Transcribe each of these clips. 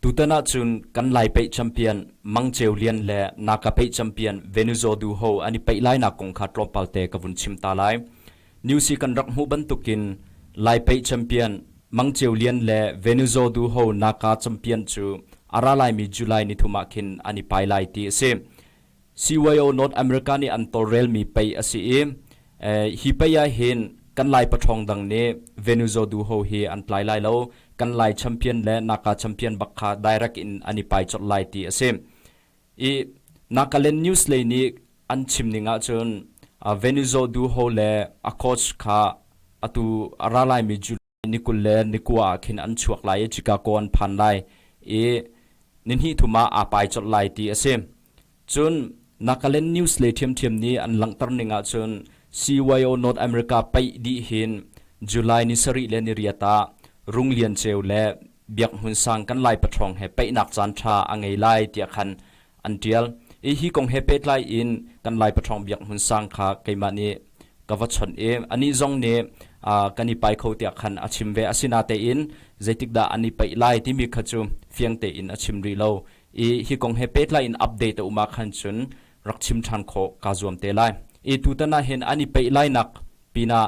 Tutan ahcun kan Lai pei champion Mang Ceu Lian le Naka pei champion Venuzo Du Ho an i peih lainak kong kha tlawmpal te ka vun chim ta lai. News hi kan rak hmuh bantukin Lai pei champion Mang Ceu Lian le Venuzo Du Ho Naka champion cu a ra laimi July nithum ah khin an i pai lai ti a si. CYO North America nih an tawlrelmi pei a si i hi pei ah hin kan Lai paṭhawng dang nih Venuzaw-du ho hi an tlai lai lo, kan Lai champion le Naka champion bak kha direct in an i pai colh lai ti a si. I Nakaland News lei nih an chim ning ahcun Venuzaw-du ho le a coach kha atu a ra laimi ni kul le ni kua ah khin an chuak lai i Chicago an phan lai i ni hnih thum ah aa pai colh lai ti a si. Cun Nagaland News le ṭhiamṭhiam nih an langhter ning ahcun CYO North America paih dih hin July ni sarih le ni riat ah Rung Lian Ceu le Biak Hmun Sang kan lai paṭhawng he paihnak caanṭha a ngei lai tiah khan an ṭial i hi kong he pehtlai in kan Lai Patrawng Biak Hmun sang kha keimah nih ka va chawnh i anih zong nih kan i pai kho tiah khan a chim ve. Asinatein zeitikdah an i paih lai timi kha cu fiang tein a chim rih lo i hi kong he pehtlai in update a um ah khan cun rak chim ṭhan khawh kaa zuam te lai i tutan ah hin an i peih lainak pinah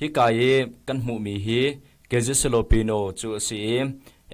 Hika i kan hmuhmi hi Kezesillopino cu a si i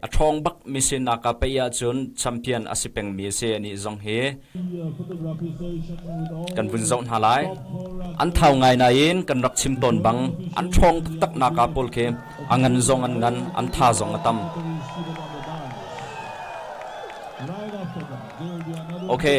a ṭhawng bak mi sinah kaa paih ahcun champion a si pengmi a si anih zong hi kan vun zoh hna lai. An thau ngai nain kan rak chim tawn bang an ṭhawng taktaknak ah pawl khi a ngan zong an ngan, an tha zong a tam. Okay.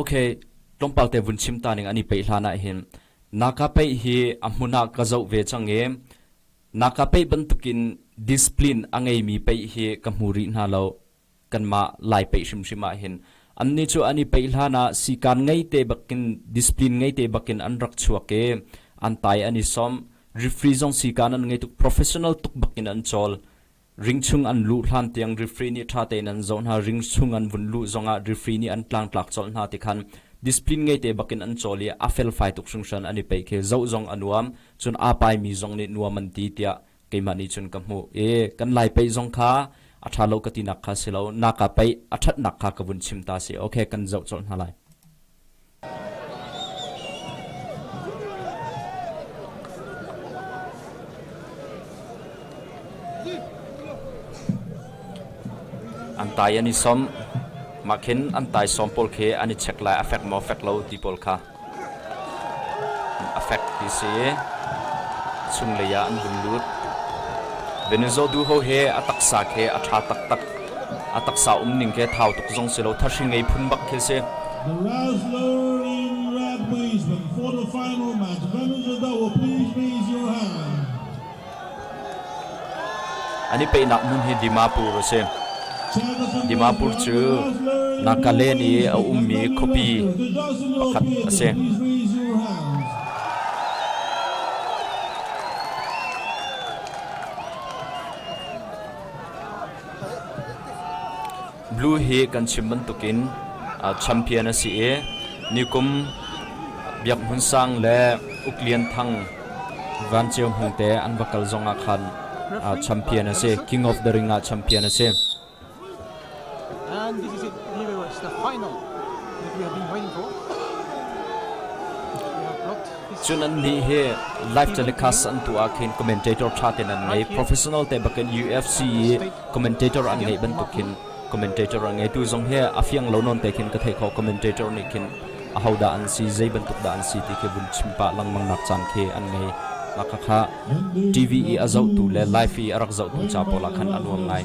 Okay, tlawmpal te vun chim ta ning an i peih hlan ah hin naka peih hi a hmun ah ka zoh ve cang i naka peih bantukin discipline a ngeimi peih hi ka hmu rih hna lo kanmah lai peih hrimhrim ah hin annih cu an i peih hlan ah sikan ngei te bakin discipline ngei te bakin an rak chuak i an tai an i som refree zong sikan an ngei tuk professional tuk bakin an chawl Ring chung an luh hlan tiang rifri nih ṭha tein an zoh hna. Ring chung an vun luh zongah rifri nih an tlangtlak colh hna ti khan discipline ngei-te bakin an cawl i a felfai tuk hringhran an i peih khi zoh zong a nuam, cun aa paimi zong nih nuam an ti tiah keimah nih cun ka hmuh i kan lai peih zong kha a ṭha lo ka tinak kha si lo, naka peih a ṭhatnak kha ka vun chim ta si. Okay, kan zoh colh hna lai. An tai an i som. Mah khin an taisawm pawl khi an i check lai a fek maw fek lo ti pawl kha a fek ti si i chunglei ah an vun lut. Venezuela du ho hi a taksa khi a ṭha taktak. A taksa um ning khi thau tuk zong si lo, thahri ngei phun bak khi a si. The last learning rugby is when quarter-final match. Members of Doha, please raise your hand. An i peihnak hmun hi Dimapur a si. Dimapur cu Nagaland i a ummi khuapi pakhat a si. Blue hi kan chim bantukin champion a si i nikum Biak Hmun Sang le Uk Lian Thang Van Ceu Hmung te an va kal zong ah khan champion a si. King of the Ring ah champion a si. And this is it. Here was the final that we have been waiting for. We have blocked Cun annih hi live telecast an tuah ah khin commentator ṭha tein an ngei. Professional te bakin UFC i commentator an ngeih bantuk khin commentator an ngei. Tu zong hi a fiang lo nawn te khin ka theih khawh commentator nih khin ahodah an si, zei bantuk dah an si ti khi vun chim pah lengmangnak caan khi an ngei. Mah khakha TV i a zohtu le live i a rak zohtu ca pawl ah khan a nuam ngai.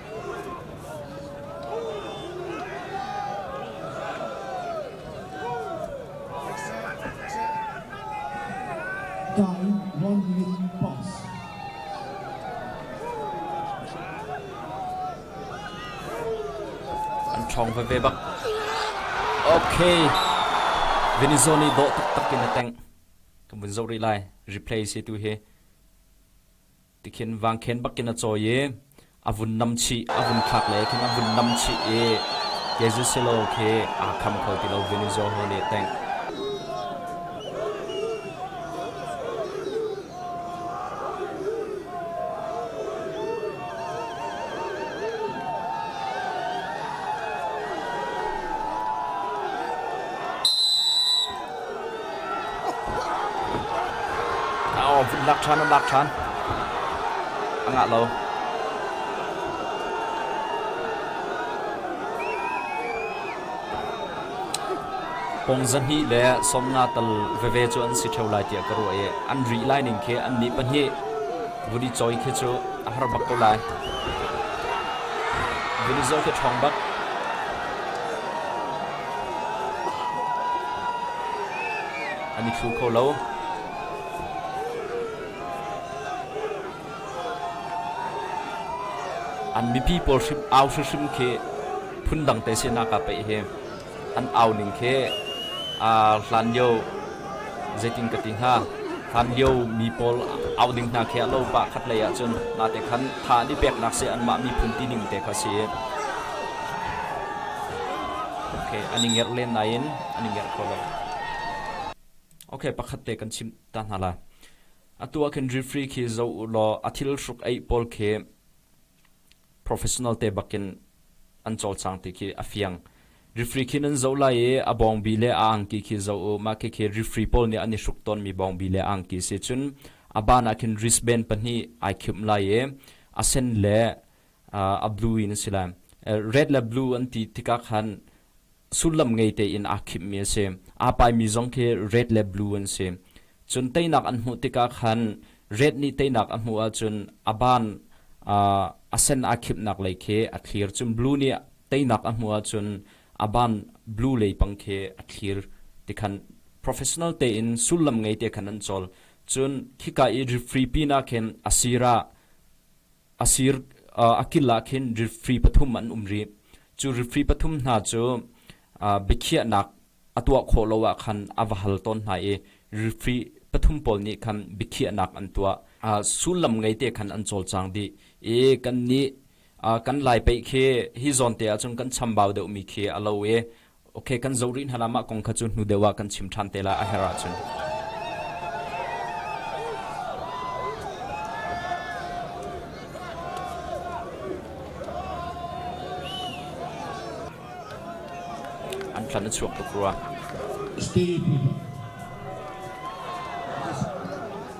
ṭhawng veve bak. Ok. Venezuela nih dawh taktak in a teng. Kan vun zoh rih lai. Replay se tu hi. Tikhin vangkhen bakin a cawi i a vun nam chih, a vun thlak le khin a vun nam chih i Kezisehlaw khi aa kham kho ti lo, Venizeaho nih a tengh. lak ṭhan an lak ṭhan. A ngah lo. Pong zahnih le sawmnga tal veve cu an si ṭheo lai tiah ka ruah i an ri lai ning khi annih pahnih vuni cawi khi cu a har bak ko lai. Vuni zawi khi ṭhawng bak. An i thlu kho lo. An mipi pawl hrim au hrimhrim khi phundang te sinak ah pei hi an au ning khi hlan lio Zeitin ka ti hnga? Hlanlio mi pawl au ding hna khi a lo pa khatlei ahcun mate khan tha an i peknak seh anmah miphun tining te kha si. Okay, an i ngerh len nain an i ngerh kho lo. Okay, pakhat te kan chim ta hna la. Atu ah khin refree khi zo u law a thil hruk eih pawl khi professional te bakin an cawlcang ti khi a fiang. Rifri khi nan zoh lai i a bawngbi le a angki khi zoh u, mah khikhi rifri pawl nih an i hruk tawnmi bawngbi le angki si cun a ban ah khin wristband pahnih ai khimh lai i a sen le a blue in a si lai. Red le blue an ti tikah khan sullam ngei tein aa khimhmi a si. Aa paimi zong khi red le blue an si. Cun teinak an hmuh tikah khan red nih teinak a hmuh ahcun a ban a sen aa khimhnak lei khi a thlir. Cun blue nih teinak a hmuh ahcun a ban blue lei pang khi a thlir ti khan professional tein sullam ngei te khan an cawl. Cun khika i refree pin ah khin a sir ah a kil ah khin rifri pathum an um rih. Cu rifri pathum hna cu biakhiahnak a tuah khawh lo ah khan a va hal tawn hna i rifri pathum pawl nih khan biakhiahnak an tuah. Sullam ngei te khan an cawlcang dih i kannih kan lai pei khi hi zawn te ahcun kan chambau deuhmi khi a lo i Okay, kan zo rih hna la mah kong kha cu hnu deuh ah kan chim ṭhan te la a herh ahcun. An thlan a chuak tuk rua. Stay people.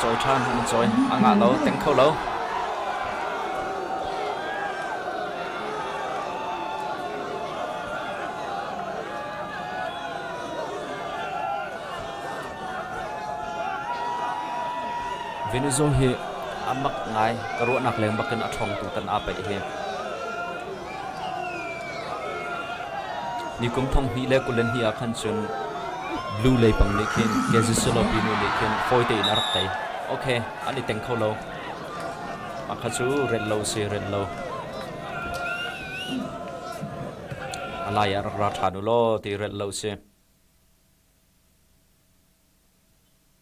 Cawi ṭhan an i cawi. A ngah lo, teng kho lo. Venezuela hi a mak ngai ka ruahnak leng bakin a ṭhawngtu tan aa pei hi. Ni kum thonghnih le kul hnih ah khan cun blue lei pang nih khin ke zisulopi nu nih khin fawi tein a rak tei. Ok, an i teng kho lo. Mah kha cu rel lo si, rel lo. A lai ah rak ra ṭhan u law ti rel lo si.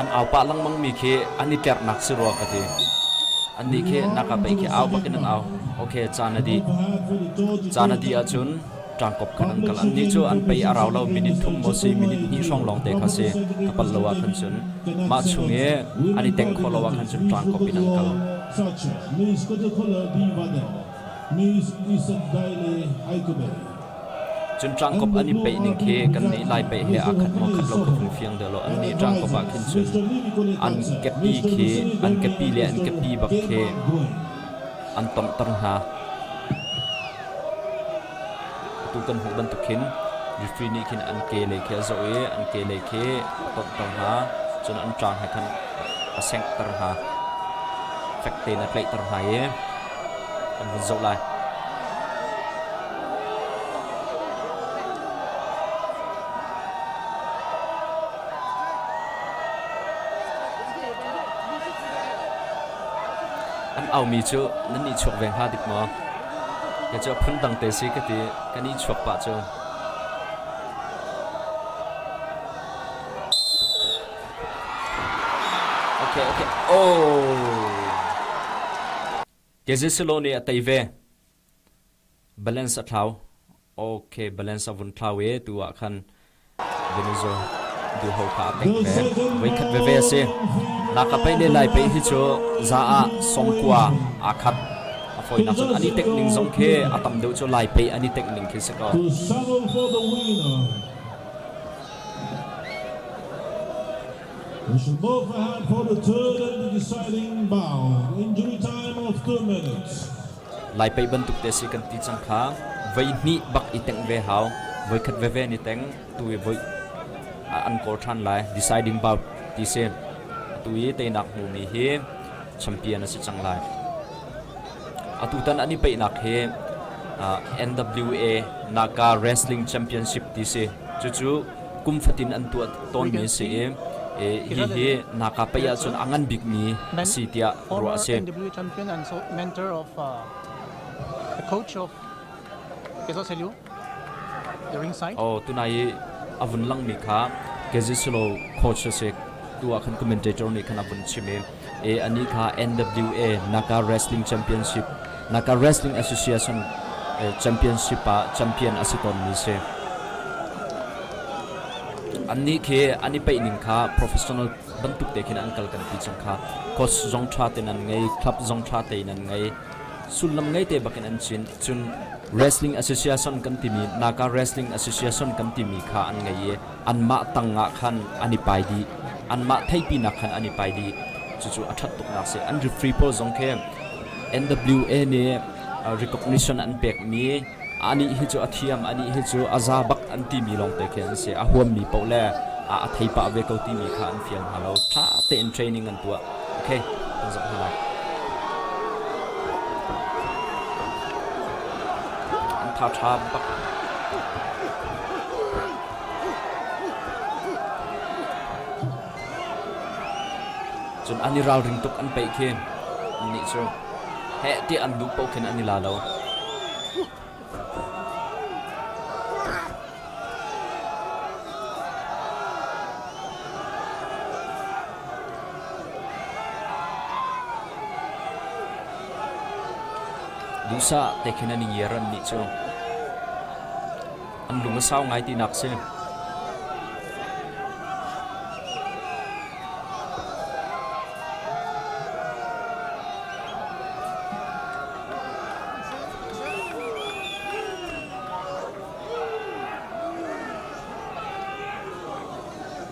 an aupa lengmangmi khi an i tlerhnak si rua ka ti annih khi naka pei khi au bakin an au ok caan a dih caan a dih ahcun ṭangkop khan an kal annih cu an pei a rau lo minute thum maw si minute hnih hrawng lawng te kha si ka pal lo ah khan cun mah chung i an i teng khawh lo ah khan cun ṭangkop in an kal News Isakdai le Haikubei. Cun ṭangkop an i peih ning khi kannih Lai pei he aa khat maw khat lo ka hung fiang deuh lo. Annih ṭangkop ah khin cun an kepi khi an kepi le an kepi bak khi an tonghter hna. Atu kan hmuh bantuk khin refree nih khin an ke lei khi a zoh i an ke lei khi a tonghter hna. Cun an tlang he khan a sengter hna. Fek tein a tlaihter hna i kan vun zoh lai. An aumi cu nan i chuak ve hnga dik maw? Ke cu phundang te si ka ti kan i chuak pah cu. Okay, okay. Oh. Gezisilo nih a tei ve. Balance a thlau. Okay, balance a vun thlau e tu ah khan Venezuela du ho kha a peng ve. Voi khat ve ve si. Na ka pei le lai pei hi chu za a songkua a khat. A foi nak chun ani tek ning zong khi a tam deuh chu lai pei ani tek ning khi se ko. We should both have reported third and the deciding bound. Injury time of two minutes. Lai pei bantuk te si kan ti cang kha voi hnih bak i teng ve hau voi khat ve ve ni teng tu i voi an kor than lai deciding bout ti se tu i teinak hmu mi hi champion a si cang lai Atutan an i peihnak hi NWA Naga Wrestling Championship ti si. Cucu kum fatin an tuah tawnmi a si i hihi Naga pei ahcun a ngan bikmi a si tiah ruah a si. NWA champion and mentor of the coach of Peso Seliu. Aw tunai i a vun langmi kha Gazisolo coach a si tu ah khan commentator nih khan a vun chim i e ani kha NWA Naka Wrestling Championship Naka Wrestling Association championship ah champion a si tawnmi si annih khi an i peihning kha professional bantuk te khin an kal kan ti chung kha coach zong tha te nan ngei club zong tha te nan ngei Sullam ngeite bakin an cin. Cun Wrestling Association kan timi Naga Wrestling Association kan timi kha an ngei i anmah tangah khan an i pai dih. Anmah theipinak khan an i pai dih. Cucu a ṭhat tuknak a si. An refree pawl zong khi NWA nih recognition an pekmi Anih hi cu a thiam, anih hi cu a za bak an timi lawngte khi an si. A huammi paoh le a a theipah ve ko timi kha an fial hna lo. Ṭha tein training an tuah. Okay, kan zoh hna lai. An tha ṭha bak. Cun an i ralring tuk an peih khi. Annih cu. heh tiah an duh paoh khin an i la lo. Duhsah te khin an i ngiar an nih cu. an lung a sau ngai tinak a si.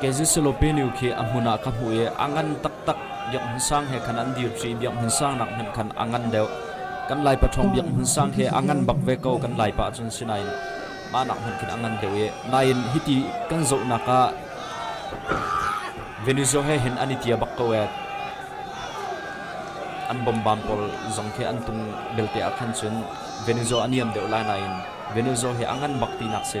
Kezussulopenu khi a hmun ah ka hmuh i a ngan taktak, biakinn sang he khan an dir ṭi i biakinn sangnak hmanh khan a ngan deuh. Kan laipa ṭhawng biakinn sang khi a ngan bak ve ko, kan laipa ahcun sinain mahnak hmanh khin a ngan deuh i nain hiti kan zohnak ah Venezuela he hin an i tia bak ko ee. An bombam pawl zong khi an tung belte ah khan cun Venezuela a niam deuh lai nain Venezuela hi a ngan bak tinak si.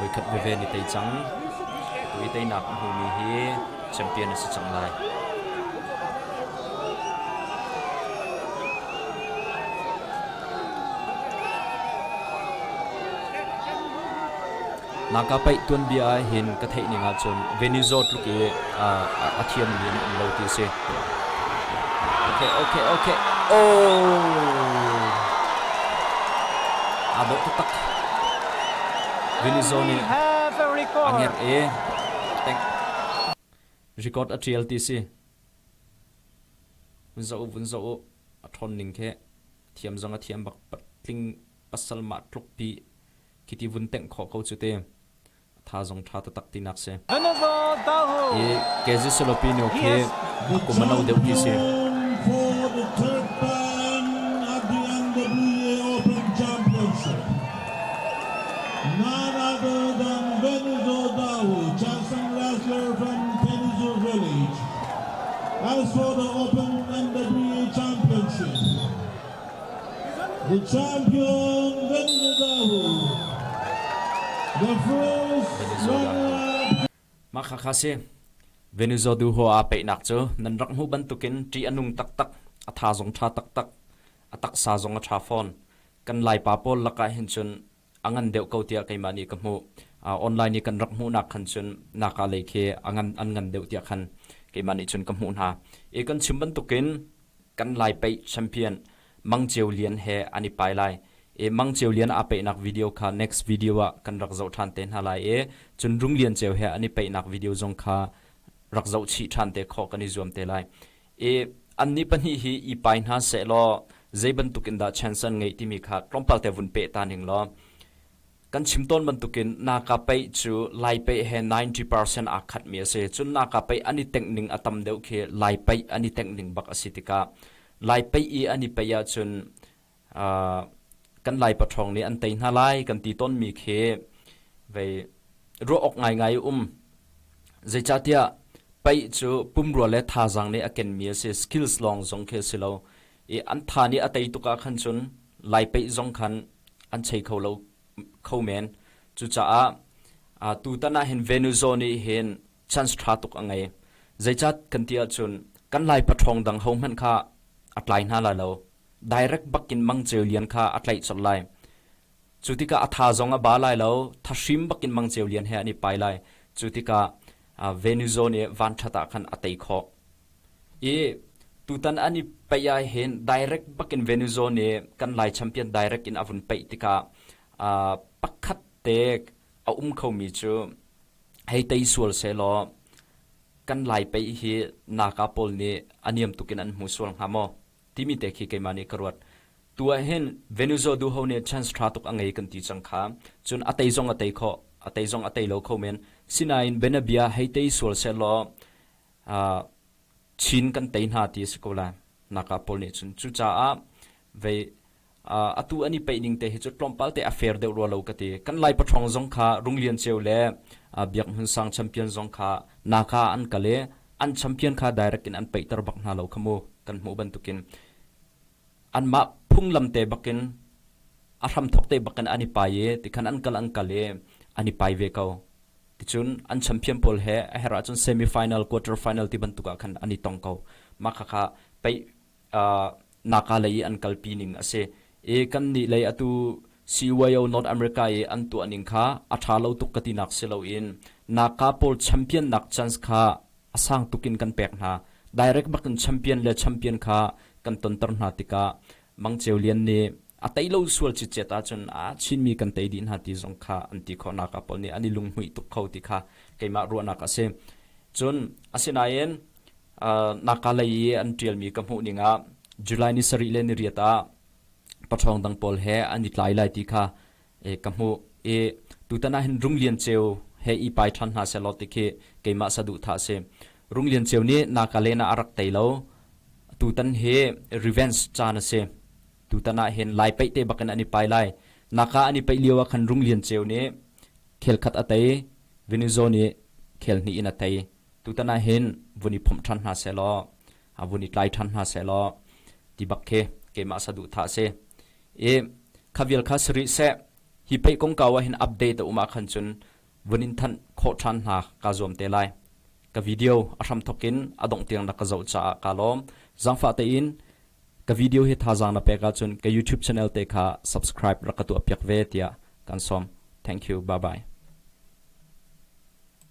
Voikhat veve ni tei cang. Kui teinak a hmumi hi champion a si cang lai. Naka paih tuanbia ah hin ka theih ning ahcun Venizo tluk i a thiammi an um lo ti a si. Okay, okay, okay. Oh! Aa dawh taktak. Venizo nih a nger i tank record a tial ti si. Zoh vun zoh u, a ṭhawn ning khi. A thiam zong a thiam bak, patling pasal mah tlukpi khi vun tengh khawh ko cu ti. A tha zong ṭha taktak tinak si. I Kezi Solopino khi a kum a no deuh mi si. For the third time at the Andalusia Open Championships. Narado dang Venzo Dau, Chasang last from Kenzo Village has for the Open MW Championship. The champion Venzo Dau, the first runner-up Maka khasi Venezuela du ho a peihnak cu nan rak hmu bantukin ṭih a nung taktak, a tha zong ṭha taktak, a taksa zong a ṭha fawn. Kan Laipa pawl lakah hin cun a ngan deuh ko tiah keimah nih ka hmuh. Online i kan rak hmuhnak khan cun naka lei khi a ngan an ngan deuh tiah khan keimah nih cun ka hmuh hna i kan chim bantukin kan Lai Peih Champion Mang Ceu Lian he an i pai lai i Mang Ceu Lian aa peihnak video kha next video ah kan rak zoh ṭhan te hna lai i cun Rung Lian Ceu he an i peihnak video zong kha rak zoh chih ṭhan te khawh kan i zuam te lai i annih pahnih hi i pai hna seh law zei bantuk in dah chance an ngeih timi kha tlawmpal te vun peh ta ning law kan chim tawn bantukin naka pei cu lai pei he 90% aa khatmi a si cun naka pei an i tengh ning a tam deuh khi lai pei an i tengh ning bak a si tikah lai pei i an i pei ahcun kan lai paṭhawng nih an tei hna lai kan ti tawnmi khi vei ruah awk ngaingai a um zeicahtiah pei cu pumrua le thazaang nih a kenmi a si skills lawng zong khi a si lo i an tha nih a tei tuk ah khan cun lai peih zong khan an chei kho lo kho men cucaah tutan ah hin Venezuela nih hin chance ṭha tuk a ngei. Zeicah kan ti ahcun kan Lai paṭhawng dang hohmanh kha a tlai hna lai lo. Direct bakin mangceu lian kha a tlaih colh lai. Cu tikah a tha zong a ba lai lo, thahrim bakin mangceu lian he an i pai lai. Cu tikah Venuzawn i vanṭhat ah khan a tei khawh. I tutan an i paih ahhin direct bakin Venuzawn i kan Lai champion direct in a vun paih tikah pakhat te a um khomi cu hei tei sual sehlaw kan lai pei hi naka pawl nih a niam tuk in an hmu sual hnga maw timi te khi keimah nih ka ruat tu ah hin venuzo du ho nih chance tha tuk a ngei kan ti chang kha cun a tei zong a tei kho a tei zong a tei lo kho men sinain benabia hei tei sual sehlaw uh, chin kan tei hna ti a si ko la naka pawl nih cun cucaah vei atu an i paih ning te hi cu tlawmpal te a fair deuh rua lo ka ti. Kan Lai paṭhawng zong kha Rung Lian Ceu le Biak Hmun Sang champion zong kha Naka ah an kal i an champion kha direct in an paihter bak hna lo kha mu kan hmuh bantukin anmah phunglam te bakin a hramthawk te bakin an i pai i tikhan an kal an kal i an i pai ve ko. Ticun an champion pawl he a herh ahcun semi final quarter final ti bantuk ah khan an i tong ko. Mah khakha paih Naga lei i an kalpi ning a si i kannih lei atu CYO North America i an tuah ning kha a ṭha lo tuk ka tinak si loin Naga pawl champion-nak chance kha a sang tuk in kan pek hna. Direct bak in champion le champion kha kan tonter hna tikah Mang Ceu Lian nih a tei lo sual citcet ahcun aa chinmi kan tei dih hna ti zong kha an ti khawh. Naga pawl nih an i lunghmuih tuk kho ti kha keimah ruahnak a si. Cun, asinain Naka lei i an ṭialmi ka hmuh ning ah July ni sarih le niriat ah paṭhawng dang pawl he an i tlai lai ti kha ka hmuh i tutan ah hin Rung Lian Ceu he i pai ṭhan hna sehlaw ti khi keimah saduhthah a si. Rung Lian Ceu nih Naka len ah a rak tei lo. Tutan hi revenge caan a si. Tutan ah hin lai paih te bak in an i pai lai. Naka an i paih lio ah khan Rung Lian Ceu nih khel khat a tei, Venezuela nih khel hnih in a tei. tutan ah hin vun i phomh ṭhan hna sehlaw a vun i tlai ṭhan hna sehlaw ti bak khi keimah saduhthah a si i kha vial kha si rih seh hi pei kongkau ah hin update a um ah khan cun vun in thanh khawh ṭhan hna ka zuam te lai ka video a hram thok in a dongh tiang na ka zoh caah ka lawm zangfah tein ka video hi thazaang na pek ahcun ka youtube channel te kha subscribe rak ka tu piak ve tiah kan som thank you bye bye